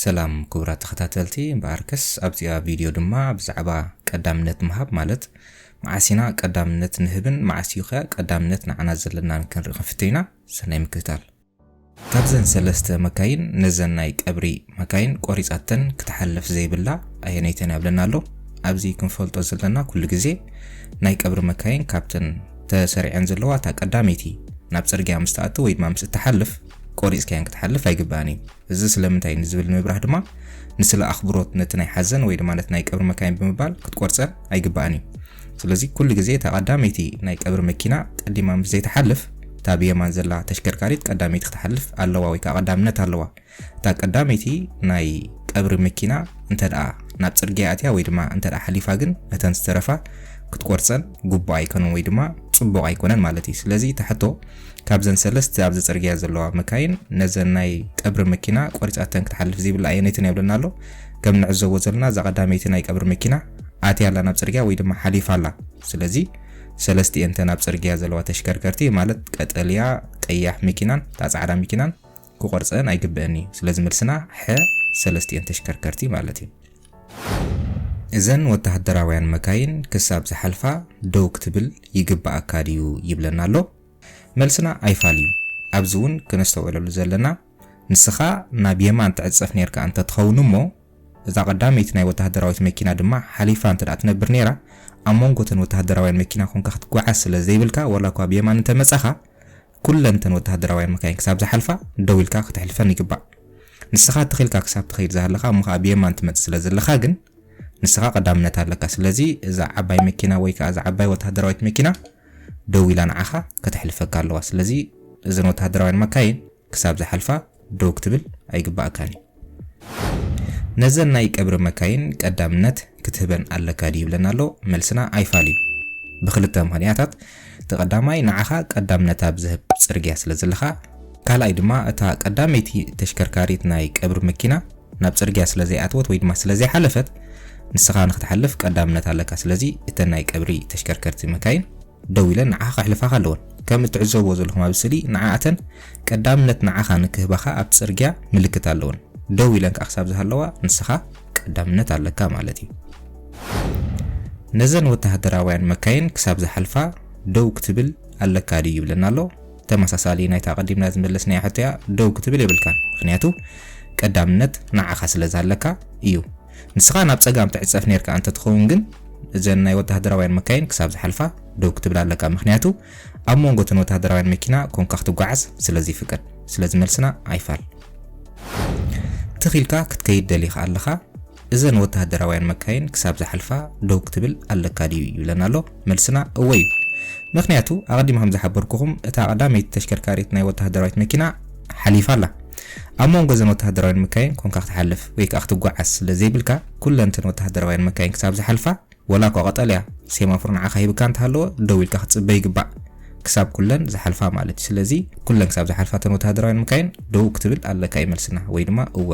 ሰላም ክቡራት ተኸታተልቲ እምበኣርከስ ኣብዚኣ ቪድዮ ድማ ብዛዕባ ቀዳምነት ምሃብ ማለት መዓስ ኢና ቀዳምነት ንህብን መዓስ እዩ ከ ቀዳምነት ንዓና ዘለናን ክንርኢ ክንፍትን ኢና ሰናይ ምክትታል ካብዘን ሰለስተ መካይን ነዘን ናይ ቀብሪ መካይን ቆሪጻተን ክትሓልፍ ዘይብላ ኣየነይተን እያ ብለና ኣሎ ኣብዚ ክንፈልጦ ዘለና ኩሉ ግዜ ናይ ቀብሪ መካይን ካብተን ተሰሪዐን ዘለዋ እታ ቀዳመይቲ ናብ ጽርግያ ምስ ትኣቱ ወይ ድማ ምስ እትሓልፍ ቆሪጽካያን ክትሓልፍ ኣይግባእን እዩ እዚ ስለምንታይ ንዝብል ንምብራህ ድማ ንስለ ኣኽብሮት ነቲ ናይ ሓዘን ወይ ድማ ነቲ ናይ ቀብሪ መካይን ብምባል ክትቆርጸን ኣይግባእን እዩ። ስለዚ ኩሉ ግዜ እታ ቀዳመይቲ ናይ ቀብሪ መኪና ቀዲማ ምስ ዘይትሓልፍ እታ ብየማን ዘላ ተሽከርካሪት ቀዳመይቲ ክትሓልፍ ኣለዋ ወይ ከኣ ቀዳምነት ኣለዋ። እታ ቀዳመይቲ ናይ ቀብሪ መኪና እንተድኣ ናብ ጽርግያ ኣትያ ወይ ድማ እንተድኣ ሓሊፋ ግን ነተን ዝተረፋ ክትቆርጸን ግቡእ ኣይከኑን ወይ ድማ ጽቡቕ ኣይኮነን ማለት እዩ። ስለዚ እታ ሕቶ ካብዘን ሰለስተ ኣብዚ ጽርግያ ዘለዋ መካይን ነዘን ናይ ቀብሪ መኪና ቆሪጻተን ክትሓልፍ ዘይብላ ኣየነይትን እያ ይብለና ኣሎ። ከም ንዕዘቦ ዘለና እዛ ቀዳመይቲ ናይ ቀብሪ መኪና ኣትያ ኣላ ናብ ጽርግያ ወይ ድማ ሓሊፋ ኣላ። ስለዚ ሰለስቲኤን እተን ኣብ ጽርግያ ዘለዋ ተሽከርከርቲ ማለት ቀጠልያ፣ ቀያሕ መኪናን እታ ጻዕዳ መኪናን ክቆርጸን ኣይግበእን እዩ ስለዚ መልስና ሐ ሰለስቲኤን ተሽከርከርቲ ማለት እዩ። እዘን ወተሃደራውያን መካይን ክሳብ ዝሓልፋ ደው ክትብል ይግበኣካ ድዩ ይብለና ኣሎ መልስና ኣይፋል እዩ ኣብዚ ውን ክነስተውዕለሉ ዘለና ንስኻ ናብ የማን ትዕጸፍ ኔርካ እንተ ትኸውን እሞ እዛ ቀዳመይቲ ናይ ወተሃደራዊት መኪና ድማ ሓሊፋ እንተ ትነብር ኔራ ኣብ መንጎ እተን ወተሃደራውያን መኪና ኮንካ ክትጓዓዝ ስለ ዘይብልካ ዋላ እኳ ብ የማን እንተ መጻኻ ኩለን እተን ወተሃደራውያን መካይን ክሳብ ዝሓልፋ ደው ኢልካ ከተሕልፈን ይግባእ። ንስኻ ትኽ ኢልካ ክሳብ ትኸይድ ዝሃለኻ እሞ ከኣ ብየማን ትመጽእ ስለ ዘለኻ ግን ንስኻ ቀዳምነት ኣለካ። ስለዚ እዛ ዓባይ መኪና ወይ ከኣ እዛ ዓባይ ወተሃደራዊት መኪና ደው ኢላ ንዓኻ ከተሕልፈካ ኣለዋ። ስለዚ እዘን ወተሃደራውያን መካይን ክሳብ ዝሓልፋ ደው ክትብል ኣይግባኣካን እዩ ነዘን ናይ ቀብሪ መካይን ቀዳምነት ክትህበን ኣለካ ድዩ ይብለና ኣሎ መልስና ኣይፋል እዩ ብክልተ ምክንያታት እቲ ቀዳማይ ንዓኻ ቀዳምነት ኣብ ዝህብ ጽርግያ ስለ ዘለኻ ካልኣይ ድማ እታ ቀዳመይቲ ተሽከርካሪት ናይ ቀብሪ መኪና ናብ ጽርግያ ስለ ዘይኣትወት ወይ ድማ ስለ ዘይሓለፈት ንስኻ ንክትሓልፍ ቀዳምነት ኣለካ ስለዚ እተን ናይ ቀብሪ ተሽከርከርቲ መካይን ደው ኢለን ንዓኻ ከሕልፋኻ ኣለወን። ከም እትዕዘብዎ ዘለኹም ኣብዚ ስእሊ ንዓኣተን ቀዳምነት ንዓኻ ንክህባኻ ኣብቲ ጽርግያ ምልክት ኣለወን። ደው ኢለን ከኣ ክሳብ ዝሃለዋ ንስኻ ቀዳምነት ኣለካ ማለት እዩ። ነዘን ወተሃደራውያን መካይን ክሳብ ዝሓልፋ ደው ክትብል ኣለካ ድዩ ይብለና ኣሎ። ተመሳሳሊ ናይታ ኣቐዲምና ዝመለስናያ ሕቶ'ያ፣ ደው ክትብል የብልካን ምኽንያቱ ቀዳምነት ንዓኻ ስለ ዝሃለካ እዩ። ንስኻ ናብ ጸጋም ትዕጸፍ ኔርካ እንተ ትኸውን ግን እዘን ናይ ወተሃደራውያን መካይን ክሳብ ዝሓልፋ ደው ክትብል ኣለካ ምኽንያቱ ኣብ ሞንጎ እተን ወተሃደራውያን መኪና ኮንካ ክትጓዓዝ ስለ ዘይፍቀድ ስለዚ መልስና ኣይፋል ትኽ ኢልካ ክትከይድ ደሊኻ ኣለኻ እዘን ወተሃደራውያን መካይን ክሳብ ዝሓልፋ ደው ክትብል ኣለካ ድዩ ይብለና ኣሎ መልስና እወ እዩ። ምኽንያቱ ኣቐዲመ ከም ዝሓበርኩኹም እታ ቀዳመይቲ ተሽከርካሪት ናይ ወተሃደራዊት መኪና ሓሊፋ ኣላ። ኣብ ሞንጎ እዘን ወተሃደራውያን መካይን ኮንካ ክትሓልፍ ወይ ከኣ ክትጓዓዝ ስለ ዘይብልካ ኩለን እተን ወተሃደራውያን መካይን ክሳብ ዝሓልፋ ወላ እኳ ቀጠልያ ሴማፎር ንዓኻ ሂብካ እንተሃለወ ደው ኢልካ ክትጽበ ይግባእ። ክሳብ ኩለን ዝሓልፋ ማለት እዩ። ስለዚ ኩለን ክሳብ ዝሓልፋ እተን ወተሃደራውያን መካይን ደው ክትብል ኣለካ እዩ መልስና ወይ ድማ እወ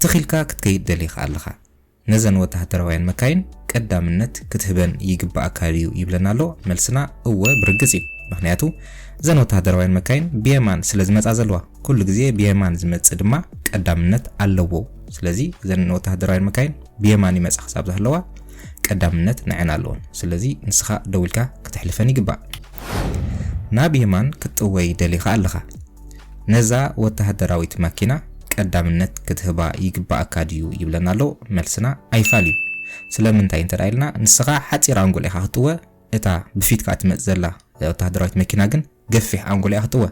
ትኽ ኢልካ ክትከይድ ደሊኻ ኣለኻ። ነዘን ወተሃደራውያን መካይን ቀዳምነት ክትህበን ይግበኣካ ድዩ ይብለና ኣሎ? መልስና እወ ብርግጽ እዩ። ምኽንያቱ እዘን ወተሃደራውያን መካይን ብየማን ስለ ዝመጻ ዘለዋ። ኩሉ ግዜ ብየማን ዝመጽእ ድማ ቀዳምነት ኣለዎ። ስለዚ እዘን ወተሃደራውያን መካይን ብየማን ይመጻ ክሳብ ዝሃለዋ ቀዳምነት ንዐን ኣለወን። ስለዚ ንስኻ ደው ኢልካ ክተሕልፈን ይግባእ። ናብ የማን ክትጥወይ ደሊኻ ኣለኻ። ነዛ ወተሃደራዊት ማኪና ቀዳምነት ክትህባ ይግበኣካ ድዩ ይብለና ኣሎ መልስና ኣይፋል እዩ ስለምንታይ እንተ ኢልና ንስኻ ሓጺር ኣንጎል ኢኻ ክትጥወ እታ ብፊትካ ትመጽእ ዘላ ወተሃደራዊት መኪና ግን ገፊሕ ኣንጎል እያ ክትጥወ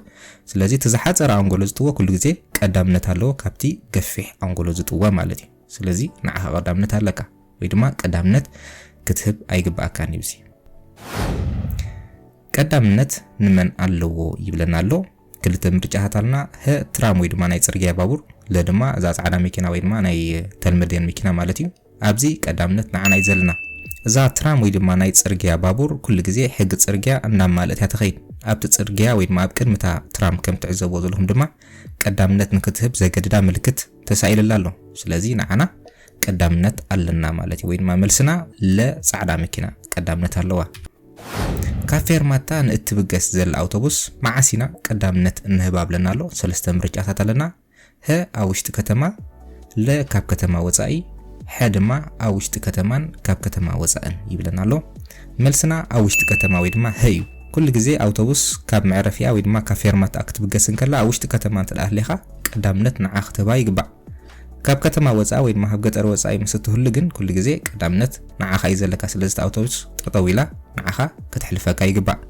ስለዚ እቲ ዝሓጸረ ኣንጎሎ ዝጥወ ኩሉ ግዜ ቀዳምነት ኣለዎ ካብቲ ገፊሕ ኣንጎሎ ዝጥወ ማለት እዩ ስለዚ ንዓኻ ቀዳምነት ኣለካ ወይ ድማ ቀዳምነት ክትህብ ኣይግበኣካን እዩ እዚ ቀዳምነት ንመን ኣለዎ ይብለና ኣሎ። ክልተ ምርጫታት ኣልና ህ ትራም ወይ ድማ ናይ ጽርግያ ባቡር ለ ድማ እዛ ጻዕዳ መኪና ወይ ድማ ናይ ተልመድያን መኪና ማለት እዩ። ኣብዚ ቀዳምነት ንዓና እዩ ዘለና። እዛ ትራም ወይ ድማ ናይ ጽርግያ ባቡር ኩሉ ግዜ ሕጊ ጽርግያ እናማልእት እያ ትኸይድ። ኣብቲ ጽርግያ ወይ ድማ ኣብ ቅድሚ እታ ትራም ከም ትዕዘብዎ ዘለኹም ድማ ቀዳምነት ንክትህብ ዘገድዳ ምልክት ተሳኢልላ ኣሎ። ስለዚ ንዓና ቀዳምነት ኣለና ማለት እዩ ወይ ድማ መልስና ለ ጻዕዳ መኪና ቀዳምነት ኣለዋ። ካብ ፌርማታ ንእትብገስ ዘላ ኣውቶቡስ መዓስ ኢና ቀዳምነት እንህባ ብለና ኣሎ። ሰለስተ ምርጫታት ኣለና፣ ሀ ኣብ ውሽጢ ከተማ፣ ለ ካብ ከተማ ወጻኢ፣ ሐ ድማ ኣብ ውሽጢ ከተማን ካብ ከተማ ወጻእን ይብለና ኣሎ። መልስና ኣብ ውሽጢ ከተማ ወይ ድማ ሀ እዩ። ኩሉ ግዜ ኣውቶቡስ ካብ መዕረፊኣ ወይ ድማ ካብ ፌርማታኣ ክትብገስ እንከላ ኣብ ውሽጢ ከተማ እንተድኣ ሃሊኻ ቀዳምነት ንዓ ክትህባ ይግባእ። ካብ ከተማ ወጻኢ ወይ ድማ ካብ ገጠር ወጻኢ ምስ እትህሉ ግን ኩሉ ግዜ ቀዳምነት ንዓኻ እዩ ዘለካ ስለዚ እታ ኣውቶቡስ ጠጠው ኢላ ንዓኻ ከተሕልፈካ ይግባእ።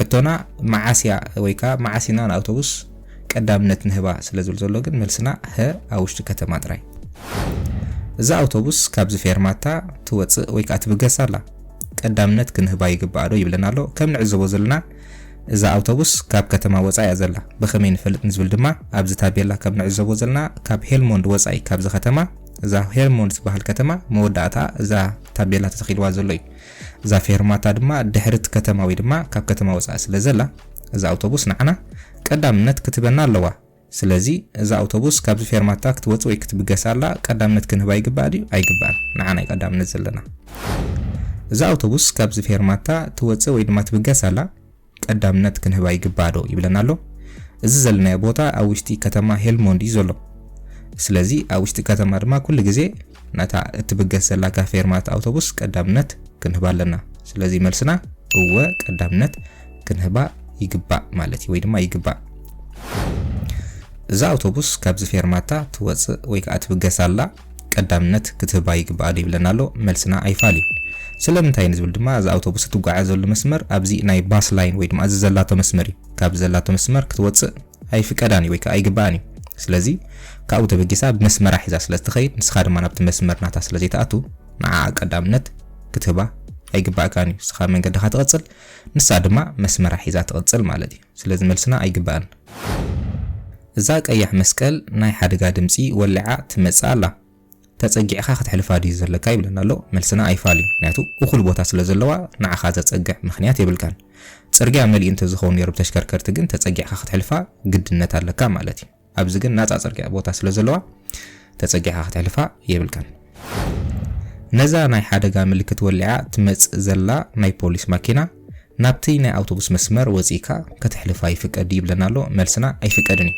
ሕቶና መዓስ እያ ወይ ከኣ መዓስ ኢና ንኣውቶቡስ ቀዳምነት ንህባ ስለ ዝብል ዘሎ ግን መልስና ሀ ኣብ ውሽጢ ከተማ ጥራይ። እዛ ኣውቶቡስ ካብዚ ፌርማታ ትወጽእ ወይ ከኣ ትብገስ ኣላ ቀዳምነት ክንህባ ይግባእ ዶ ይብለና ኣሎ ከም ንዕዘቦ ዘለና እዛ ኣውቶቡስ ካብ ከተማ ወጻኢ እያ ዘላ፣ ብኸመይ ንፈልጥ ንዝብል ድማ ኣብዚ ታቤላ ከም ንዕዘቦ ዘለና ካብ ሄልሞንድ ወጻኢ ካብዚ ከተማ እዛ ሄርሞንድ ትበሃል ከተማ መወዳእታኣ እዛ ታቤላ ተተኺልዋ ዘሎ እዩ። እዛ ፌርማታ ድማ ድሕሪ እቲ ከተማ ወይ ድማ ካብ ከተማ ወጻኢ ስለ ዘላ እዛ ኣውቶቡስ ንዓና ቀዳምነት ክትበና ኣለዋ። ስለዚ እዛ ኣውቶቡስ ካብዚ ፌርማታ ክትወጽእ ወይ ክትብገስ ኣላ ቀዳምነት ክንህባ ይግባእ ድዩ ኣይግባእን ንዓና እዩ ቀዳምነት ዘለና እዛ ኣውቶቡስ ካብዚ ፌርማታ ትወጽእ ወይ ድማ ትብገስ ኣላ ቀዳምነት ክንህባ ይግባእ ዶ ይብለና ኣሎ እዚ ዘለናዮ ቦታ ኣብ ውሽጢ ከተማ ሄልሞንድ እዩ ዘሎ ስለዚ ኣብ ውሽጢ ከተማ ድማ ኩሉ ግዜ ነታ እትብገስ ዘላ ጋፌርማት ኣውቶቡስ ቀዳምነት ክንህባ ኣለና። ስለዚ መልስና እወ ቀዳምነት ክንህባ ይግባእ ማለት እዩ ወይ ድማ ይግባእ። እዛ ኣውቶቡስ ካብዚ ፌርማታ ትወጽእ ወይ ከዓ ትብገስ ኣላ ቀዳምነት ክትህባ ይግባኣ ዶ ይብለና ኣሎ መልስና ኣይፋል እዩ። ስለምንታይ ንዝብል ድማ እዛ ኣውቶቡስ እትጓዓዘሉ መስመር ኣብዚ ናይ ባስ ላይን ወይ ድማ እዚ ዘላቶ መስመር እዩ። ካብዚ ዘላቶ መስመር ክትወጽእ ኣይፍቀዳን እዩ ወይ ከኣ ኣይግበኣን እዩ። ስለዚ ካብኡ ተበጊሳ ብመስመራ ሒዛ ስለ እትኸይድ ንስኻ ድማ ናብቲ መስመር ናታ ስለ ዘይትኣቱ ንዓኣ ቀዳምነት ክትህባ ኣይግባእካን እዩ። ንስኻ መንገድኻ ትቕጽል ንሳ ድማ መስመራ ሒዛ ትቕጽል ማለት እዩ። ስለዚ መልስና ኣይግባእን። እዛ ቀያሕ መስቀል ናይ ሓደጋ ድምጺ ወሊዓ ትመጽእ ኣላ። ተጸጊዕካ ክትሕልፋ ድዩ ዘለካ ይብለና ኣሎ መልስና ኣይፋል እዩ ምክንያቱ እኩል ቦታ ስለ ዘለዋ ንዓካ ዘጸግዕ ምክንያት የብልካን ጽርግያ መሊኡ እንተ ዝከውን ኔሩ ብተሽከርከርቲ ግን ተጸጊዕካ ክትሕልፋ ግድነት ኣለካ ማለት እዩ ኣብዚ ግን ናጻ ጽርግያ ቦታ ስለ ዘለዋ ተጸጊዕካ ክትሕልፋ የብልካን ነዛ ናይ ሓደጋ ምልክት ወሊዓ ትመጽእ ዘላ ናይ ፖሊስ ማኪና ናብቲ ናይ ኣውቶቡስ መስመር ወጺእካ ክትሕልፋ ይፍቀድ ድዩ ይብለና ኣሎ መልስና ኣይፍቀድን እዩ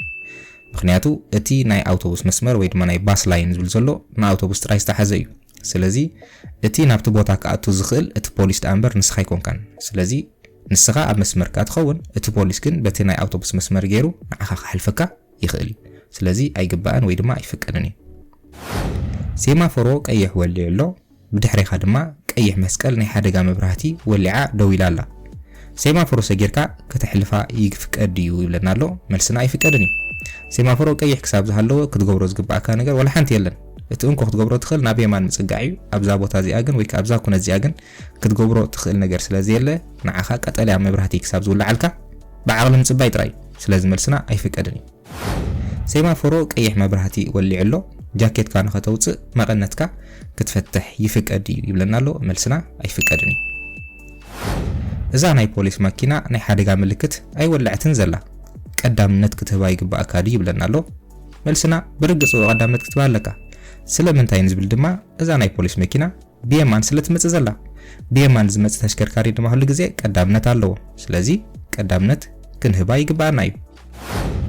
ምኽንያቱ እቲ ናይ ኣውቶቡስ መስመር ወይ ድማ ናይ ባስ ላይን ዝብል ዘሎ ንኣውቶቡስ ጥራይ ዝተሓዘ እዩ። ስለዚ እቲ ናብቲ ቦታ ክኣቱ ዝኽእል እቲ ፖሊስ ደኣ እምበር ንስኻ ኣይኮንካን። ስለዚ ንስኻ ኣብ መስመር እካ ትኸውን እቲ ፖሊስ ግን በቲ ናይ ኣውቶቡስ መስመር ገይሩ ንዓኻ ክሓልፈካ ይኽእል እዩ። ስለዚ ኣይግባእን ወይ ድማ ኣይፍቀድን እዩ። ሴማፎሮ ቀይሕ ወሊዑ ኣሎ። ብድሕሬኻ ድማ ቀይሕ መስቀል ናይ ሓደጋ መብራህቲ ወሊዓ ደው ኢላ ኣላ ሴማፎሮ ሰጊርካ ከተሕልፋ ይፍቀድ ድዩ ይብለና ኣሎ መልስና ኣይፍቀድን እዩ ሴማፎሮ ቀይሕ ክሳብ ዝሃለወ ክትገብሮ ዝግባኣካ ነገር ዋላ ሓንቲ የለን እቲ እንኮ ክትገብሮ ትኽእል ናብ የማን ምጽጋዕ እዩ ኣብዛ ቦታ እዚኣ ግን ወይ ከኣ ኣብዛ ኩነት እዚኣ ግን ክትገብሮ ትኽእል ነገር ስለ ዘየለ ንዓኻ ቀጠልያ መብራህቲ ክሳብ ዝውልዓልካ ብዓቕሊ ምጽባይ ጥራይ ስለዚ መልስና ኣይፍቀድን እዩ ሴማፎሮ ቀይሕ መብራህቲ ወሊዑ ኣሎ ጃኬትካ ንኸተውጽእ መቐነትካ ክትፈትሕ ይፍቀድ ድዩ ይብለና ኣሎ መልስና ኣይፍቀድን እዩ እዛ ናይ ፖሊስ ማኪና ናይ ሓደጋ ምልክት ኣይወለዐትን ዘላ ቀዳምነት ክትህባ ይግባኣካ ድዩ ይብለና ኣሎ መልስና ብርግጽ ቀዳምነት ክትባ ኣለካ ስለምንታይ ንዝብል ድማ እዛ ናይ ፖሊስ መኪና ብየማን ስለ ትመጽእ ዘላ ብየማን ዝመጽእ ተሽከርካሪ ድማ ኩሉ ግዜ ቀዳምነት ኣለዎ ስለዚ ቀዳምነት ክንህባ ይግብኣና እዩ።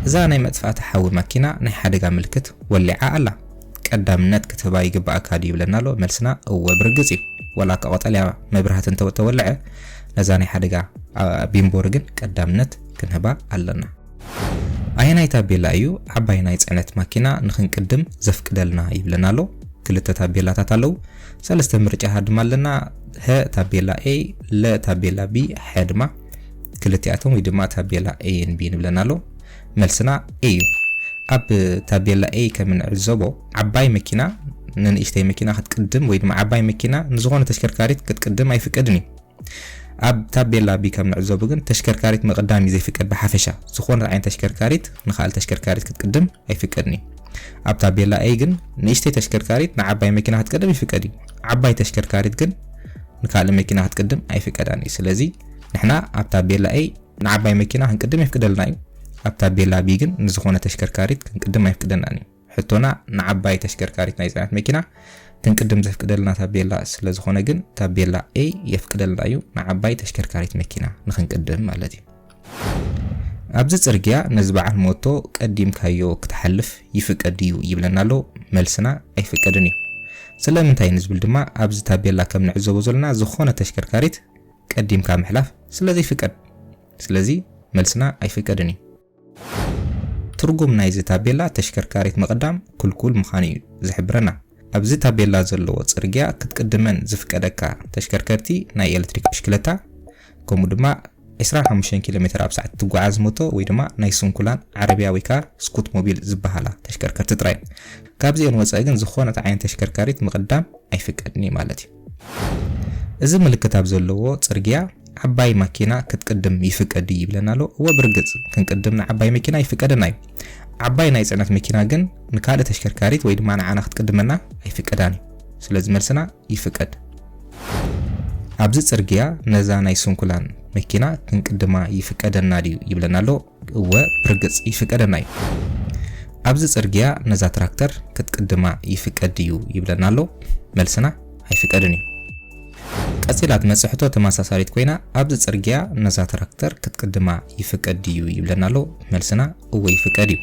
እዛ ናይ መጥፋእቲ ሓዊ ማኪና ናይ ሓደጋ ምልክት ወሊዓ ኣላ ቀዳምነት ክትህባ ይግብኣካ ድዩ ይብለና ኣሎ መልስና እወ ብርግጽ እዩ ወላ እካ ቆጠልያ መብራህቲ እንተ ተወልዐ ነዛ ናይ ሓደጋ ቢምቦሪ ግን ቀዳምነት ክንህባ ኣለና። ኣየናይ ታቤላ እዩ ዓባይ ናይ ጽዕነት ማኪና ንክንቅድም ዘፍቅደልና ይብለና ኣሎ። ክልተ ታቤላታት ኣለው። ሰለስተ ምርጫታት ድማ ኣለና። ሀ ታቤላ A፣ ለ ታቤላ B፣ ሐ ድማ ክልቲኣቶም ወይ ድማ ታቤላ A ን B ንብለና ኣሎ። መልስና A እዩ። ኣብ ታቤላ A ከም እንዕዘቦ ዓባይ መኪና ንንእሽተይ መኪና ክትቅድም ወይ ድማ ዓባይ መኪና ንዝኾነ ተሽከርካሪት ክትቅድም ኣይፍቀድን እዩ። ኣብ ታቤላ ብ ከም ንዕዘቡ ግን ተሽከርካሪት ምቕዳም እዩ ዘይፍቀድ ብሓፈሻ ዝኾነት ዓይነት ተሽከርካሪት ንኻልእ ተሽከርካሪት ክትቅድም ኣይፍቀድን እዩ። ኣብ ታቤላ A ግን ንእሽተይ ተሽከርካሪት ንዓባይ መኪና ክትቀድም ይፍቀድ እዩ። ዓባይ ተሽከርካሪት ግን ንካልእ መኪና ክትቅድም ኣይፍቀዳን እዩ። ስለዚ ንሕና ኣብ ታቤላ A ንዓባይ መኪና ክንቅድም የፍቅደልና እዩ። ኣብ ታቤላ B ግን ንዝኾነ ተሽከርካሪት ክንቅድም ኣይፍቅደናን እዩ። ሕቶና ንዓባይ ተሽከርካሪት ናይ ጽዕነት መኪና ክንቅድም ዘፍቅደልና ታቤላ ስለ ዝኾነ ግን ታቤላ A የፍቅደልና እዩ ንዓባይ ተሽከርካሪት መኪና ንክንቅድም ማለት እዩ። ኣብዚ ጽርግያ ነዚ በዓል ሞቶ ቀዲምካዮ ክትሓልፍ ይፍቀድ ድዩ ይብለና ኣሎ መልስና ኣይፍቀድን እዩ። ስለምንታይ ንዝብል ድማ ኣብዚ ታቤላ ከም ንዕዘቦ ዘለና ዝኾነ ተሽከርካሪት ቀዲምካ ምሕላፍ ስለ ዘይፍቀድ ስለዚ መልስና ኣይፍቀድን እዩ። ትርጉም ናይዚ ታቤላ ተሽከርካሪት ምቕዳም ክልኩል ምኻኑ እዩ ዝሕብረና። ኣብዚ ታቤላ ዘለዎ ጽርግያ ክትቅድመን ዝፍቀደካ ተሽከርከርቲ ናይ ኤለትሪክ ብሽክለታ ከምኡ ድማ ዕስራን ሓሙሽተን ኪሎ ሜተር ኣብ ሰዓት እትጓዓዝ ሞቶ ወይ ድማ ናይ ስንኩላን ዓረብያ ወይ ከኣ ስኩት ሞቢል ዝበሃላ ተሽከርከርቲ ጥራይ እየን። ካብዚኤን ወጸኢ ግን ዝኾነት ዓይነት ተሽከርካሪት ምቕዳም ኣይፍቀድን እዩ ማለት እዩ። እዚ ምልክት ኣብ ዘለዎ ጽርግያ ዓባይ ማኪና ክትቅድም ይፍቀድ ድዩ ይብለና ኣሎ። እወ ብርግጽ ክንቅድም ንዓባይ መኪና ይፍቀደና እዩ። ዓባይ ናይ ጽዕነት መኪና ግን ንካልእ ተሽከርካሪት ወይ ድማ ንዓና ክትቅድመና ኣይፍቀዳን እዩ። ስለዚ መልስና ይፍቀድ። ኣብዚ ጽርግያ ነዛ ናይ ስንኩላን መኪና ክንቅድማ ይፍቀደና ድዩ ይብለና ኣሎ። እወ ብርግጽ ይፍቀደና እዩ ኣብዚ ጽርግያ ነዛ ትራክተር ክትቅድማ ይፍቀድ ድዩ ይብለና ኣሎ መልስና ኣይፍቀድን እዩ ቀጺላ ትመጽእ ሕቶ ተመሳሳሊት ኮይና ኣብዚ ጽርግያ ነዛ ትራክተር ክትቅድማ ይፍቀድ ድዩ ይብለና ኣሎ መልስና እወ ይፍቀድ እዩ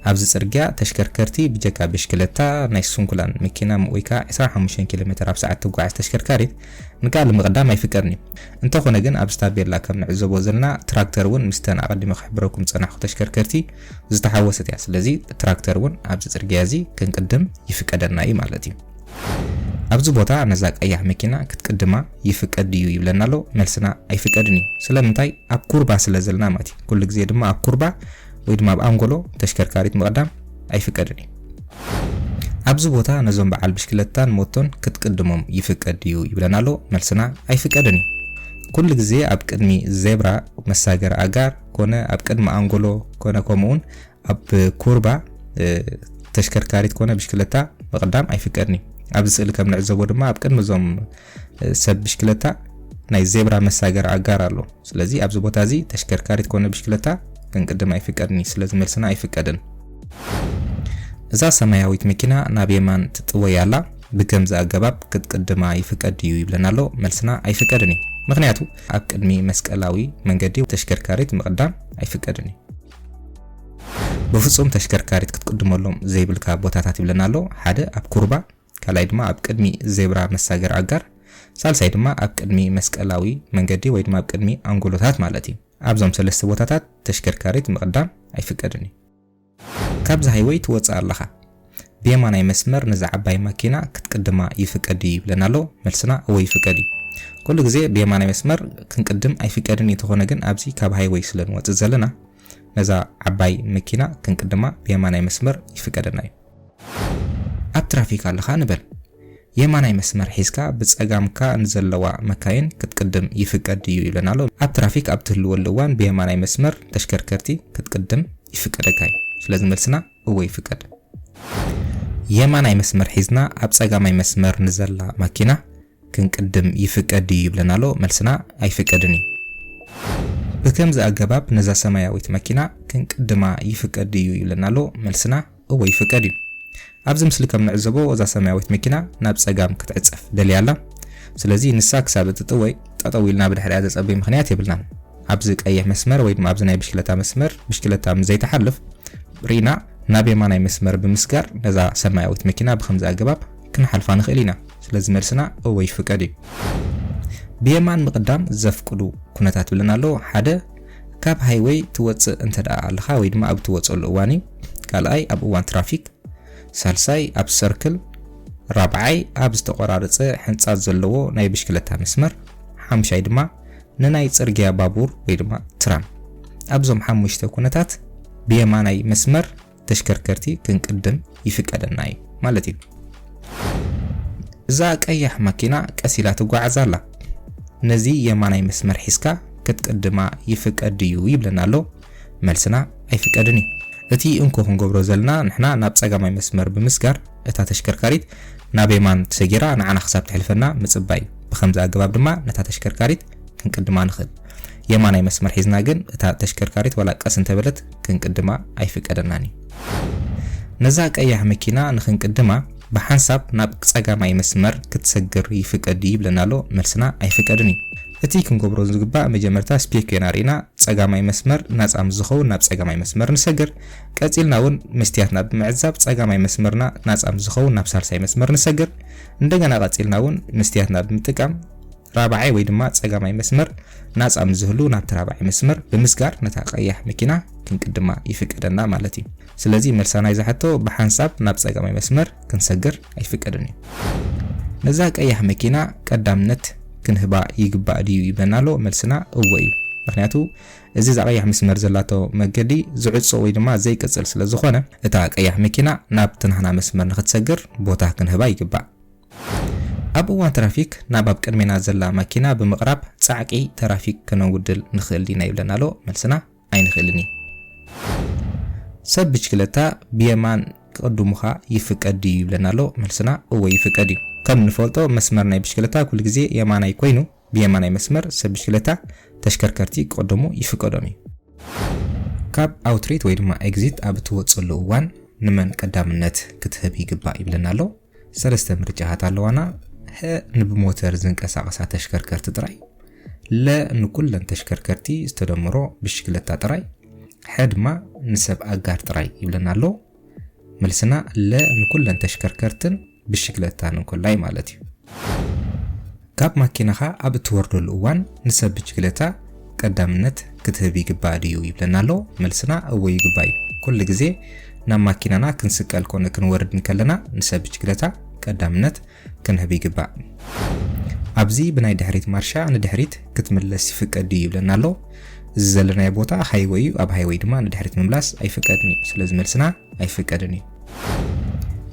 ኣብዚ ጽርግያ ተሽከርከርቲ ብጀካ ብሽክለታ ናይ ስንኩላን መኪና ወይ ከዓ 25 ኪሎ ሜትር ኣብ ሰዓት ትጓዓዝ ተሽከርካሪት ንቃል ምቕዳም ኣይፍቀድን እዩ። እንተኾነ ግን ኣብዚ ታቤላ ከም ንዕዘቦ ዘለና ትራክተር ውን ምስተን ኣቐዲመ ክሕብረኩም ዝጸናሕኩ ተሽከርከርቲ ዝተሓወሰት እያ። ስለዚ ትራክተር ውን ኣብዚ ጽርግያ እዚ ክንቅድም ይፍቀደና እዩ ማለት እዩ። ኣብዚ ቦታ ነዛ ቀያሕ መኪና ክትቅድማ ይፍቀድ ድዩ ይብለና ኣሎ። መልስና ኣይፍቀድን እዩ። ስለምንታይ ኣብ ኩርባ ስለ ዘለና ማለት እዩ። ኩሉ ግዜ ድማ ኣብ ኩርባ ወይ ድማ ኣብ ኣንጎሎ ተሽከርካሪት ምቕዳም ኣይፍቀድን እዩ። ኣብዚ ቦታ ነዞም በዓል ብሽክለታን ሞቶን ክትቅድሞም ይፍቀድ ድዩ ይብለና ኣሎ መልስና ኣይፍቀድን እዩ ኩሉ ግዜ ኣብ ቅድሚ ዜብራ መሳገሪ ኣጋር ኮነ ኣብ ቅድሚ ኣንጎሎ ኮነ ከምኡውን ኣብ ኩርባ ተሽከርካሪት ኮነ ብሽክለታ ምቕዳም ኣይፍቀድን እዩ ኣብዚ ስእሊ ከም ንዕዘቦ ድማ ኣብ ቅድሚ እዞም ሰብ ብሽክለታ ናይ ዜብራ መሳገሪ ኣጋር ኣሎ ስለዚ ኣብዚ ቦታ እዚ ተሽከርካሪት ኮነ ብሽክለታ ክንቅድም ኣይፍቀድን እዩ ስለዚ መልስና ኣይፍቀድን። እዛ ሰማያዊት መኪና ናብ የማን ትጥወይ ኣላ ብከምዚ ኣገባብ ክትቅድማ ይፍቀድ ድዩ ይብለና ኣሎ መልስና ኣይፍቀድን እዩ ምክንያቱ ኣብ ቅድሚ መስቀላዊ መንገዲ ተሽከርካሪት ምቅዳም ኣይፍቀድን እዩ። ብፍጹም ተሽከርካሪት ክትቅድመሎም ዘይብልካ ቦታታት ይብለና ኣሎ ሓደ ኣብ ኩርባ ካልኣይ ድማ ኣብ ቅድሚ ዜብራ መሳገሪ ኣጋር፣ ሳልሳይ ድማ ኣብ ቅድሚ መስቀላዊ መንገዲ ወይ ድማ ኣብ ቅድሚ ኣንጎሎታት ማለት እዩ። ኣብዞም ሰለስተ ቦታታት ተሽከርካሪት ምቕዳም ኣይፍቀድን እዩ። ካብዚ ሃይወይ ትወጽእ ኣለኻ ብየማናይ መስመር ነዛ ዓባይ ማኪና ክትቅድማ ይፍቀድ ድዩ ይብለና ኣሎ መልስና እወ ይፍቀድ እዩ። ኩሉ ግዜ ብየማናይ መስመር ክንቅድም ኣይፍቀድን እዩ ተኾነ ግን ኣብዚ ካብ ሃይወይ ስለ ንወጽእ ዘለና ነዛ ዓባይ መኪና ክንቅድማ ብየማናይ መስመር ይፍቀደና እዩ። ኣብ ትራፊክ ኣለኻ ንበል። የማናይ መስመር ሒዝካ ብጸጋምካ ንዘለዋ መካይን ክትቅድም ይፍቀድ ድዩ ይብለና ኣሎ። ኣብ ትራፊክ ኣብ ትህልወሉ እዋን ብየማናይ መስመር ተሽከርከርቲ ክትቅድም ይፍቀደካ እዩ። ስለዚ መልስና እወ ይፍቀድ። የማናይ መስመር ሒዝና ኣብ ጸጋማይ መስመር ንዘላ ማኪና ክንቅድም ይፍቀድ ድዩ ይብለና ኣሎ መልስና ኣይፍቀድን እዩ። ብከምዚ ኣገባብ ነዛ ሰማያዊት መኪና ክንቅድማ ይፍቀድ ድዩ ይብለና ኣሎ መልስና እወ ይፍቀድ እዩ። ኣብዚ ምስሊ ከም ንዕዘቦ እዛ ሰማያዊት መኪና ናብ ጸጋም ክትዕጸፍ ደልያ ኣላ ስለዚ ንሳ ክሳብ እትጥወይ ጠጠው ኢልና ብድሕሪኣ ዘጸብይ ምክንያት የብልናን። ኣብዚ ቀይሕ መስመር ወይ ድማ ኣብዚ ናይ ብሽክለታ መስመር ብሽክለታ ምስ ዘይትሓልፍ ርኢና ናብ የማናይ መስመር ብምስጋር ነዛ ሰማያዊት መኪና ብከምዚ ኣገባብ ክንሓልፋ ንኽእል ኢና፣ ስለዚ መልስና እወ ይፍቀድ እዩ። ብየማን ምቕዳም ዘፍቅዱ ኩነታት ብለን ኣሎ፣ ሓደ ካብ ሃይወይ ትወጽእ እንተደኣ ኣለኻ ወይ ድማ ኣብ እትወጸሉ እዋን እዩ፣ ካልኣይ ኣብ እዋን ትራፊክ፣ ሳልሳይ ኣብ ሰርክል፣ ራብዓይ ኣብ ዝተቖራረጸ ሕንጻት ዘለዎ ናይ ብሽክለታ መስመር፣ ሓምሻይ ድማ ንናይ ጽርግያ ባቡር ወይ ድማ ትራም። ኣብዞም ሓሙሽተ ኩነታት ብየማናይ መስመር ተሽከርከርቲ ክንቅድም ይፍቀደና እዩ ማለት እዩ። እዛ ቀያሕ ማኪና ቀስ ኢላ ትጓዓዝ ኣላ። ነዚ የማናይ መስመር ሒዝካ ክትቅድማ ይፍቀድ ድዩ ይብለና ኣሎ። መልስና ኣይፍቀድን እዩ። እቲ እንኮ ክንገብሮ ዘለና ንሕና ናብ ጸጋማይ መስመር ብምስጋር እታ ተሽከርካሪት ናብ የማን ሰጊራ ንዓና ክሳብ ትሕልፈና ምጽባይ እዩ። ብኸምዚ ኣገባብ ድማ ነታ ተሽከርካሪት ክንቅድማ ንኽእል። የማናይ መስመር ሒዝና ግን እታ ተሽከርካሪት ዋላ ቀስ እንተበለት ክንቅድማ ኣይፍቀደናን እዩ። ነዛ ቀያሕ መኪና ንክንቅድማ ብሓንሳብ ናብ ጸጋማይ መስመር ክትሰግር ይፍቀድ ድዩ ይብለና ኣሎ፣ መልስና ኣይፍቀድን እዩ። እቲ ክንገብሮ ዝግባእ መጀመርታ ስፔክዮና ርኢና ጸጋማይ መስመር ናጻ ምስ ዝኸውን ናብ ጸጋማይ መስመር ንሰግር፣ ቀጺልና እውን መስትያትና ብምዕዛብ ጸጋማይ መስመርና ናጻ ምስ ዝኸውን ናብ ሳልሳይ መስመር ንሰግር፣ እንደገና ቀጺልና እውን መስትያትና ብምጥቃም ራብዓይ ወይ ድማ ጸጋማይ መስመር ናጻ ምስ ዝህሉ ናብቲ ራብዓይ መስመር ብምስጋር ነታ ቀያሕ መኪና ክንቅድማ ይፍቀደና ማለት እዩ። ስለዚ መልሳ ናይዛ ሕቶ ብሓንሳብ ናብ ጸጋማይ መስመር ክንሰግር ኣይፍቀድን እዩ። ነዛ ቀያሕ መኪና ቀዳምነት ክንህባ ይግባእ ድዩ ይብለና ኣሎ። መልስና እወ እዩ። ምክንያቱ እዚ እዛ ቀያሕ መስመር ዘላቶ መገዲ ዝዕጾ ወይ ድማ ዘይቅጽል ስለ ዝኾነ እታ ቀያሕ መኪና ናብቲ ናህና መስመር ንክትሰግር ቦታ ክንህባ ይግባእ። ኣብ እዋን ትራፊክ ናብ ኣብ ቅድሜና ዘላ ማኪና ብምቕራብ ጻዕቂ ተራፊክ ከነውድል ንኽእል ዲና ይብለና ኣሎ። መልስና ኣይንኽእልን እዩ። ሰብ ብችክለታ ብየማን ክቕድሙኻ ይፍቀድ ድዩ ይብለና ኣሎ። መልስና እወ ይፍቀድ እዩ። ከም ንፈልጦ መስመር ናይ ብችክለታ ኩሉ ግዜ የማናይ ኮይኑ ብየማናይ መስመር ሰብ ብችክለታ ተሽከርከርቲ ክቕድሙ ይፍቀዶም እዩ። ካብ ኣውትሪት ወይ ድማ ኤግዚት ኣብ እትወጽሉ እዋን ንመን ቀዳምነት ክትህብ ይግባእ ይብለና ኣሎ። ሰለስተ ምርጫታት ኣለዋና፣ ሀ ንብሞተር ዝንቀሳቐሳ ተሽከርከርቲ ጥራይ፣ ለ ንኩለን ተሽከርከርቲ ዝተደምሮ ብሽክለታ ጥራይ፣ ሐ ድማ ንሰብ ኣጋር ጥራይ ይብለና ኣሎ። መልስና ለ ንኩለን ተሽከርከርትን ብሽክለታን እንኮላይ ማለት እዩ። ካብ ማኪናኻ ኣብ እትወርደሉ እዋን ንሰብ ብጅግለታ ቀዳምነት ክትህብ ይግባእ ድዩ ይብለና ኣሎ። መልስና እወ ይግባእ እዩ። ኩሉ ግዜ ናብ ማኪናና ክንስቀል ኮነ ክንወርድ እንከለና ንሰብ ብጅግለታ ቀዳምነት ክንህብ ይግባእ። ኣብዚ ብናይ ድሕሪት ማርሻ ንድሕሪት ክትምለስ ይፍቀድ ድዩ ይብለና ኣሎ። እዚ ዘለናዮ ቦታ ሃይወይ እዩ፣ ኣብ ሃይወይ ድማ ንድሕሪት ምምላስ ኣይፍቀድን እዩ። ስለዚ መልስና ኣይፍቀድን እዩ።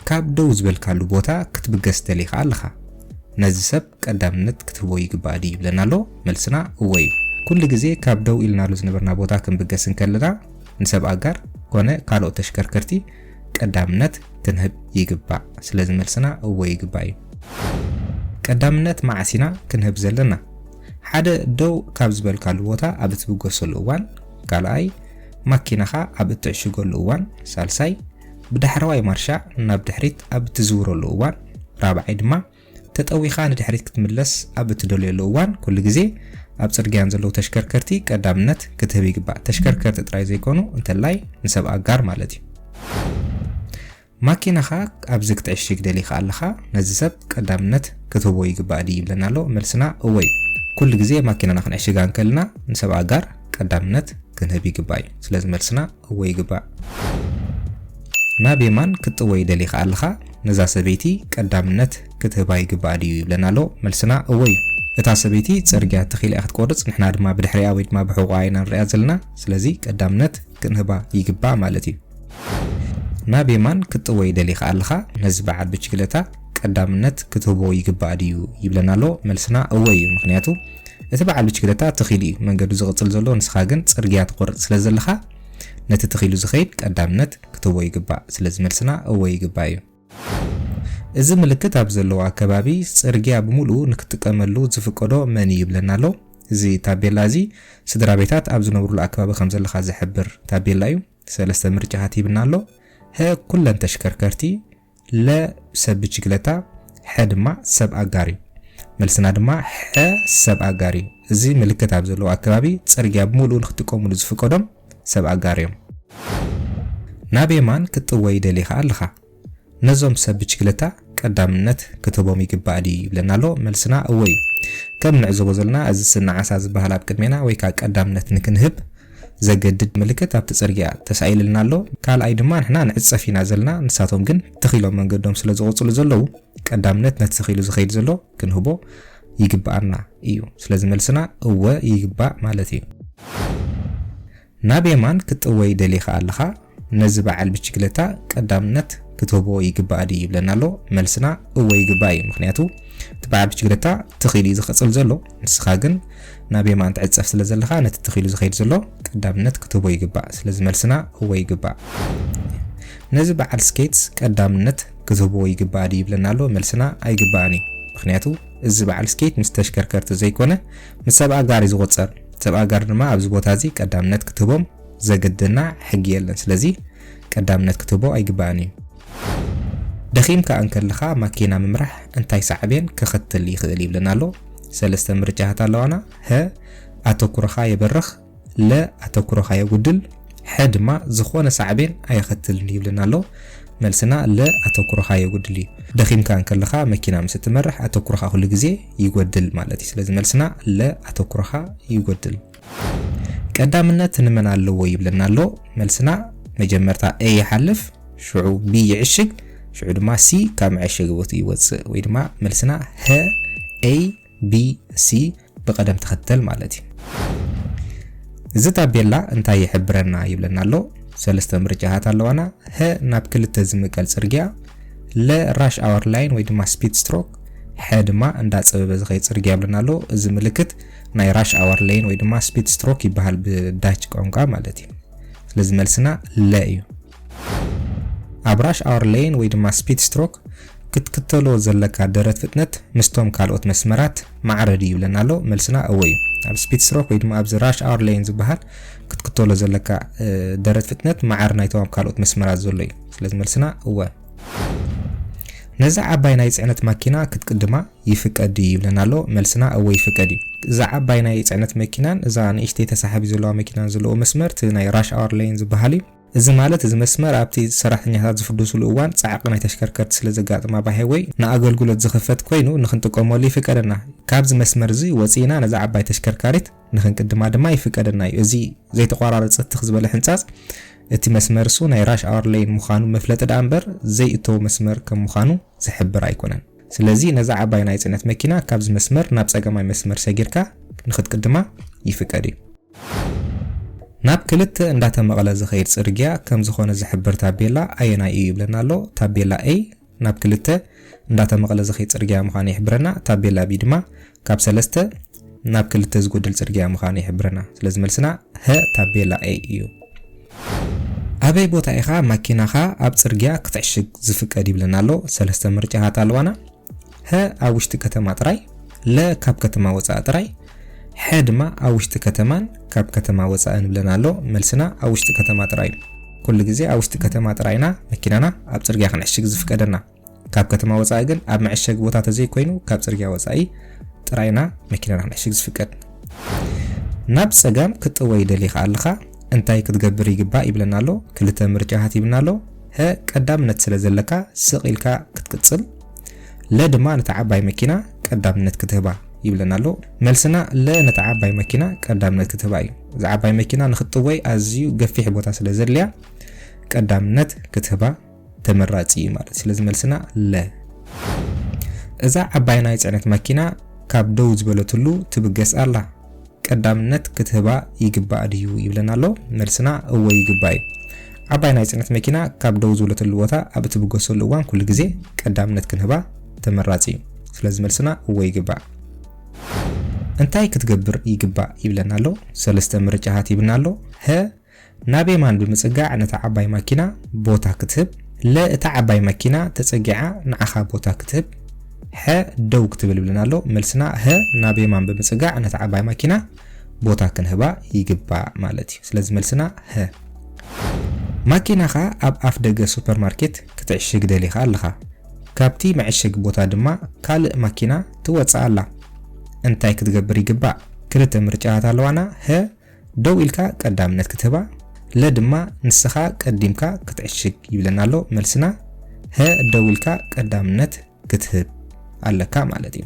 ካብ ደው ዝበልካሉ ቦታ ክትብገስ ትደሊ ከኣ ኣለኻ። ነዚ ሰብ ቀዳምነት ክትህቦ ይግባእ ድዩ ይብለና ኣሎ? መልስና እወ እዩ። ኩሉ ግዜ ካብ ደው ኢልናሉ ዝነበርና ቦታ ክንብገስ እንከለና ንሰብ ኣጋር ኮነ ካልኦት ተሽከርከርቲ ቀዳምነት ክንህብ ይግባእ። ስለዚ መልስና እወ ይግባእ እዩ። ቀዳምነት መዓስ ኢና ክንህብ ዘለና? ሓደ ደው ካብ ዝበልካሉ ቦታ ኣብ እትብገሰሉ እዋን፣ ካልኣይ ማኪናኻ ኣብ እትዕሽገሉ እዋን፣ ሳልሳይ፣ ብዳሕረዋይ ማርሻ ናብ ድሕሪት ኣብ እትዝውረሉ እዋን፣ ራብዓይ ድማ ተጠዊኻ ንድሕሪት ክትምለስ ኣብ እትደልዮሉ እዋን ኩሉ ግዜ ኣብ ጽርግያ ንዘለዉ ተሽከርከርቲ ቀዳምነት ክትህብ ይግባእ። ተሽከርከርቲ ጥራይ ዘይኮኑ እንተላይ ንሰብ ኣጋር ማለት እዩ። ማኪናኻ ኣብዚ ክትዕሽግ ደሊኻ ኣለኻ፣ ነዚ ሰብ ቀዳምነት ክትህቦ ይግባእ ድዩ ይብለና ኣሎ። መልስና እወ እዩ። ኩሉ ግዜ ማኪናና ክንዕሽጋ እንከልና ንሰብ ኣጋር ቀዳምነት ክንህብ ይግባእ እዩ። ስለዚ መልስና እወ ይግባእ። ናብ የማን ክትጥወይ ደሊኻ ኣለኻ፣ ነዛ ሰበይቲ ቀዳምነት ክትህባ ይግባእ ድዩ ይብለና ኣሎ። መልስና እወ እዩ። እታ ሰበይቲ ጽርግያ ተኺላ እያ ክትቆርጽ፣ ንሕና ድማ ብድሕሪኣ ወይ ድማ ብሕቖኣ ኢና ንርእያ ዘለና። ስለዚ ቀዳምነት ክንህባ ይግባእ ማለት እዩ። ናብ የማን ክትጥወይ ደሊኻ ኣለኻ ነዚ በዓል ብችግለታ ቀዳምነት ክትህቦ ይግባእ ድዩ ይብለና ኣሎ መልስና እወ እዩ ምኽንያቱ እቲ በዓል ብችግለታ ትኺሉ እዩ መንገዱ ዝቕጽል ዘሎ ንስኻ ግን ጽርግያ ትቖርጽ ስለ ዘለኻ ነቲ ትኺሉ ዝኸይድ ቀዳምነት ክትህቦ ይግባእ ስለዚ መልስና እወ ይግባእ እዩ እዚ ምልክት ኣብ ዘለዎ ኣከባቢ ጽርግያ ብምሉኡ ንክትጥቀመሉ ዝፍቀዶ መን እዩ ይብለና ኣሎ እዚ ታቤላ እዚ ስድራ ቤታት ኣብ ዝነብሩሉ ኣከባቢ ከም ዘለኻ ዝሕብር ታቤላ እዩ ሰለስተ ምርጫታት ሂብና ኣሎ፣ ሀ ኩለን ተሽከርከርቲ፣ ለ ሰብ ብችግለታ፣ ሐ ድማ ሰብ ኣጋር እዩ። መልስና ድማ ሐ ሰብ ኣጋር እዩ። እዚ ምልክት ኣብ ዘለዎ ኣከባቢ ፅርግያ ብምልኡ ንክጥቀሙሉ ዝፍቀዶም ሰብ ኣጋር እዮም። ናብ የማን ክትጥወይ ደሊኻ ኣለኻ። ነዞም ሰብ ብችግለታ ቀዳምነት ክትህቦም ይግባእ ድዩ ይብለና ኣሎ መልስና እወ እዩ ከም ንዕዘቦ ዘለና እዚ ስኒ ዓሳ ዝበሃል ኣብ ቅድሜና ወይ ከኣ ቀዳምነት ንክንህብ ዘገድድ ምልክት ኣብቲ ጽርግያ ተሳኢልልና ኣሎ ካልኣይ ድማ ንሕና ንዕጸፍ ኢና ዘለና ንሳቶም ግን ትኽ ኢሎም መንገዶም ስለ ዝቕጽሉ ዘለዉ ቀዳምነት ነቲ ትኽ ኢሉ ዝኸይድ ዘሎ ክንህቦ ይግባኣና እዩ ስለዚ መልስና እወ ይግባእ ማለት እዩ ናብ የማን ክትጥወይ ደሊኻ ኣለኻ ነዚ በዓል ብችግለታ ቀዳምነት ክትህቦ ይግባእ ድዩ ይብለና ኣሎ መልስና እወ ይግባእ እዩ ምኽንያቱ እቲ በዓል ብችግለታ ትኽ ኢሉ እዩ ዝቕጽል ዘሎ ንስኻ ግን ናብ የማን ትዕጸፍ ስለ ዘለኻ ነቲ ትኽ ኢሉ ዝኸይድ ዘሎ ቀዳምነት ክትህቦ ይግባእ ስለዚ መልስና እወ ይግባእ ነዚ በዓል ስኬትስ ቀዳምነት ክትህቦ ይግባእ ድዩ ይብለና ኣሎ መልስና ኣይግባእን እዩ ምኽንያቱ እዚ በዓል ስኬት ምስ ተሽከርከርቲ ዘይኮነ ንሰብ ኣጋር እዩ ዝቑጸር። ሰብ ኣጋር ድማ ኣብዚ ቦታ እዚ ቀዳምነት ክትህቦም ዘገድደና ሕጊ የለን። ስለዚ ቀዳምነት ክትህቦ ኣይግባእን እዩ። ደኺምካ እንከለኻ ማኪና ምምራሕ እንታይ ሳዕቤን ከኸትል ይኽእል ይብለና ኣሎ። ሰለስተ ምርጫታት ኣለዋና፣ ሀ ኣተኩሮኻ የበርኽ፣ ለ ኣተኩሮኻ የጉድል፣ ሐ ድማ ዝኾነ ሳዕቤን ኣየኸትልን ይብለና ኣሎ። መልስና ለ ኣተኩሮኻ የጉድል እዩ። ደኺምካ እንከለኻ መኪና ምስ እትመርሕ ኣተኩሮኻ ኩሉ ግዜ ይጎድል ማለት እዩ። ስለዚ መልስና ለ ኣተኩሮኻ ይጎድል። ቀዳምነት ንመን ኣለዎ ይብለና ኣሎ። መልስና መጀመርታ A ይሓልፍ፣ ሽዑ B ይዕሽግ፣ ሽዑ ድማ C ካብ መዐሸጊ ቦትኡ ይወጽእ ወይ ድማ መልስና ሀ A ቢ ሲ ብቐደም ተኸተል ማለት እዩ። እዚ ታቤላ እንታይ ይሕብረና ይብለና ኣሎ። ሰለስተ ምርጫታት ኣለዋና። ሀ ናብ ክልተ ዝምቀል ጽርግያ፣ ለ ራሽ ኣወር ላይን ወይ ድማ ስፒድ ስትሮክ፣ ሐ ድማ እንዳ ጸበበ ዝኸይድ ጽርግያ ይብለና ኣሎ። እዚ ምልክት ናይ ራሽ ኣወር ላይን ወይ ድማ ስፒድ ስትሮክ ይበሃል ብዳች ቋንቋ ማለት እዩ። ስለዚ መልስና ለ እዩ። ኣብ ራሽ ኣወር ሌን ወይ ድማ ስፒድ ስትሮክ ክትክተሎ ዘለካ ደረት ፍጥነት ምስቶም ካልኦት መስመራት ማዕረ ድዩ ይብለና ኣሎ መልስና እወ እዩ ኣብ ስፒድ ስትሮክ ወይ ድማ ኣብዚ ራሽ ኣወር ሌን ዝበሃል ክትክተሎ ዘለካ ደረት ፍጥነት ማዕረ ናይቶም ኣብ ካልኦት መስመራት ዘሎ እዩ ስለዚ መልስና እወ ነዛ ዓባይ ናይ ፅዕነት ማኪና ክትቅድማ ይፍቀድ እዩ ይብለና ኣሎ መልስና እወ ይፍቀድ እዩ እዛ ዓባይ ናይ ፅዕነት መኪናን እዛ ንእሽተይ ተሳሓቢ ዘለዋ መኪናን ዘለዎ መስመር እቲ ናይ ራሽ ኣወር ሌን ዝበሃል እዩ እዚ ማለት እዚ መስመር ኣብቲ ሰራሕተኛታት ዝፍድሱሉ እዋን ጻዕቒ ናይ ተሽከርከርቲ ስለ ዘጋጥም ኣባይ ሃይወይ ንኣገልግሎት ዝኽፈት ኮይኑ ንኽንጥቀመሉ ይፍቀደና። ካብዚ መስመር እዚ ወጺእና ነዛ ዓባይ ተሽከርካሪት ንኽንቅድማ ድማ ይፍቀደና እዩ። እዚ ዘይተቋራረጸ ትኽ ዝበለ ሕንጻጽ እቲ መስመር እሱ ናይ ራሽ ኣወር ሌይን ምዃኑ መፍለጢ ደኣ እምበር ዘይእተዉ መስመር ከም ምዃኑ ዝሕብር ኣይኮነን። ስለዚ ነዛ ዓባይ ናይ ጽዕነት መኪና ካብዚ መስመር ናብ ጸጋማይ መስመር ሰጊርካ ንኽትቅድማ ይፍቀድ እዩ። ናብ ክልተ እንዳተ መቐለ ዝኸይድ ጽርግያ ከም ዝኾነ ዝሕብር ታቤላ ኣየናይ እዩ ይብለና ኣሎ። ታቤላ A ናብ ክልተ እንዳተ መቐለ ዝኸይድ ጽርግያ ምዃኑ ይሕብረና። ታቤላ B ድማ ካብ ሰለስተ ናብ ክልተ ዝጎድል ጽርግያ ምዃኑ ይሕብረና። ስለዚ መልስና ሀ ታቤላ A እዩ። ኣበይ ቦታ ኢኻ ማኪናኻ ኣብ ጽርግያ ክትዕሽግ ዝፍቀድ ይብለና ኣሎ። ሰለስተ ምርጫታት ኣለዋና። ሀ ኣብ ውሽጢ ከተማ ጥራይ፣ ለ ካብ ከተማ ወጻኢ ጥራይ፣ ሐ ድማ ኣብ ውሽጢ ከተማን ካብ ከተማ ወጻእን ይብለና ኣሎ። መልስና ኣብ ውሽጢ ከተማ ጥራይ እዩ። ኩሉ ግዜ ኣብ ውሽጢ ከተማ ጥራይ ኢና መኪናና ኣብ ጽርግያ ክንዕሽግ ዝፍቀደና። ካብ ከተማ ወጻኢ ግን ኣብ መዐሸጊ ቦታ ተዘይኮይኑ ካብ ጽርግያ ወጻኢ ጥራይ ኢና መኪናና ክንዕሽግ ዝፍቀድ። ናብ ጸጋም ክትጥወይ ደሊኻ ኣለኻ እንታይ ክትገብር ይግባእ ይብለና ኣሎ። ክልተ ምርጫታት ሂብና ኣሎ። ሀ ቀዳምነት ስለ ዘለካ ስቕ ኢልካ ክትቅጽል ለ ድማ ነታ ዓባይ መኪና ቀዳምነት ክትህባ ይብለና ኣሎ። መልስና ለ ነታ ዓባይ መኪና ቀዳምነት ክትህባ እዩ። እዛ ዓባይ መኪና ንክትጥወይ ኣዝዩ ገፊሕ ቦታ ስለ ዘድልያ ቀዳምነት ክትህባ ተመራጺ እዩ ማለት ስለዚ መልስና ለ እዛ ዓባይ ናይ ጽዕነት መኪና ካብ ደው ዝበለትሉ ትብገስ ኣላ ቀዳምነት ክትህባ ይግባእ ድዩ ይብለና ኣሎ። መልስና እወ ይግባእ እዩ። ዓባይ ናይ ጽዕነት መኪና ካብ ደው ዝብለትሉ ቦታ ኣብ እትብገሰሉ እዋን ኩሉ ግዜ ቀዳምነት ክንህባ ተመራጺ እዩ። ስለዚ መልስና እወ ይግባእ። እንታይ ክትገብር ይግባእ ይብለና ኣሎ። ሰለስተ ምርጫታት ሂብና ኣሎ። ሀ ናብ የማን ብምጽጋዕ ነታ ዓባይ ማኪና ቦታ ክትህብ። ለ እታ ዓባይ ማኪና ተጸጊዓ ንዓኻ ቦታ ክትህብ። ሐ ደው ክትብል ይብለና ኣሎ። መልስና ሀ ናብ የማን ብምጽጋዕ ነታ ዓባይ ማኪና ቦታ ክንህባ ይግባእ ማለት እዩ። ስለዚ መልስና ሀ። ማኪናኻ ኣብ ኣፍ ደገ ሱፐርማርኬት ክትዕሽግ ደሊኻ ኣለኻ። ካብቲ መዐሸጊ ቦታ ድማ ካልእ ማኪና ትወጽእ ኣላ። እንታይ ክትገብር ይግባእ? ክልተ ምርጫታት ኣለዋና፣ ሀ ደው ኢልካ ቀዳምነት ክትህባ ለ ድማ ንስኻ ቀዲምካ ክትዕሽግ ይብለና ኣሎ መልስና ሀ ደው ኢልካ ቀዳምነት ክትህብ ኣለካ ማለት እዩ።